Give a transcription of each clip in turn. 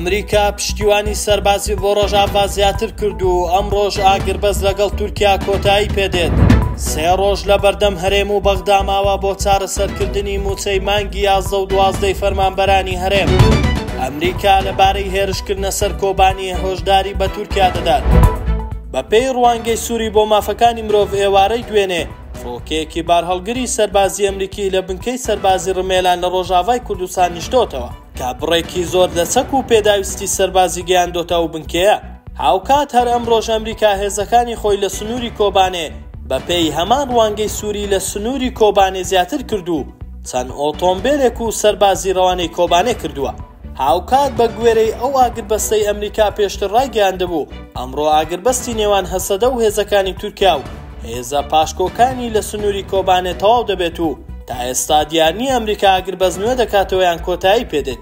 ئەمریکا پشتیوانی سەربازی بۆ ڕۆژاڤا زیاتر کرد و ئەم ڕۆژ ئاگربەز لەگەڵ تورکیا کۆتایی پێدێت سێ ڕۆژ لە بەردەم هەرێم و بەغداماوە بۆ چارەسەرکردنی مووچەی مانگی یازدە و دوازدەی فەرمانبەرانی هەرێم ئەمریکا لەبارەی هێرشکردنە سەر کۆبانی هۆشداری بە تورکیا دەدات بەپێی ڕوانگەی سووری بۆ مافەکانی مرۆڤ ئێوارەی دوێنێ فڕۆکەیەکی بارهەڵگری سەربازی ئەمریکی لە بنکەی سەربازی ڕمێلان لە ڕۆژاڤای کوردستان نیشتۆتەوە کە بڕێکی زۆر لە چەک و پێداویستی سەربازی گەیاندۆتە ئەو بنکەیە. هاوکات هەر ئەمڕۆش ئەمریکا هێزەکانی خۆی لە سنووری کۆبانێ بەپێی هەمان ڕوانگەی سووری لە سنووری کۆبانێ زیاتر کرد و چەند ئۆتۆمبێلێک و سەربازی ڕەوانەی کۆبانێ کردووە. هاوکات بە گوێرەی ئەو ئاگربەستەی ئەمریکا پێشتر ڕایگەیاندبوو، ئەمڕۆ ئاگربەستی نێوان هەسەدە و هێزەکانی تورکیا و هێزە پاشکۆکانی لە سنووری کۆبانێ تەواو دەبێت و تا ئێستا دیار نییە ئەمریکا ئاگربەست نوێ دەکاتەوە یان کۆتایی پێ دێت.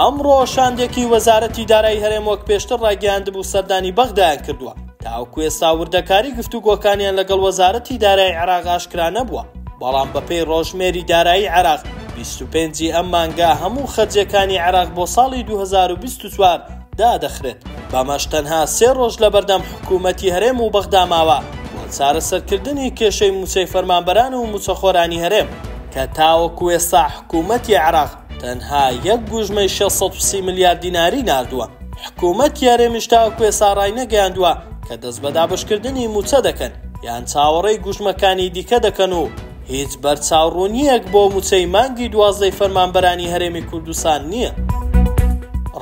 ئەمڕۆ شاندێکی وەزارەتی دارایی هەرێم وەک پێشتر ڕایگەیاندبوو سەردانی بەغدایان کردووە. تاوەکو ئێستا وردەکاری گفتوگۆکانیان لەگەڵ وەزارەتی دارایی عێراق ئاشکرا نەبووە، بەڵام بەپێی ڕۆژمێری دارایی عێراق، بیست و پێنج ی ئەم مانگە هەموو خەرجییەکانی عێراق بۆ ساڵی دوو هەزار و بیست و چوار دادەخرێت، بەمەش تەنها سێ ڕۆژ لەبەردەم حکومەتی هەرێم و بەغدا ماوە بۆ چارەسەرکردنی کێشەی مووچەی فەرمانبەران و مووچەخۆرانی هەرێم، کە تاوەکو ئێستا حکومەتی عێراق تەنها یەک گوژمەی شەش سەد و سی ملیار دیناری ناردووە. حکومەتی هەرێمیش تاوەکو ئێستا ڕاینەگەیاندووە کە دەست بە دابەشکردنی مووچە دەکەن یان چاوەڕێی گوژمەکانی دیکە دەکەن و هیچ بەرچاوڕوونییەک بۆ مووچەی مانگی دوازدەی فەرمانبەرانی هەرێمی کوردستان نییە.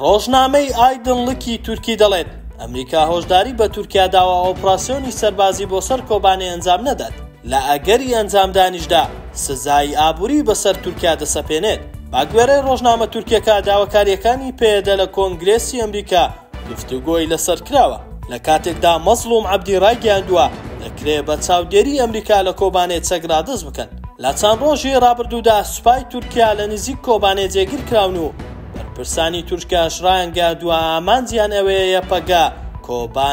ڕۆژنامەی ئایدنڵکی تورکی دەڵێت، ئەمریکا هۆشداری بە تورکیا داوە ئۆپراسیۆنی سەربازی بۆ سەر کۆبانێ ئەنجام نەدات. لە ئەگەری ئەنجامدانیشدا سزای ئابووری بەسەر تورکیا دەسەپێنێت. بەگوێرەی ڕۆژنامە تورکیەکە، داواکارییەکانی پەیەدە لە کۆنگرێسی ئەمریکا گفتوگۆی لەسەر کراوە، لە کاتێکدا مەزڵوم عەبدی ڕایگەیاندووە، دەکرێت بە چاودێری ئەمریکا لە کۆبانێ چەک ڕادەست بکەن. لە چەند ڕۆژی ڕابردوودا سوپای تورکیا لە نزیک کۆبانێ جێگیر کراون و بەرپرسانی تورکیاش ڕایانگەیاندووە ئامانجیان ئەوەیە یەپەگە کۆبانێ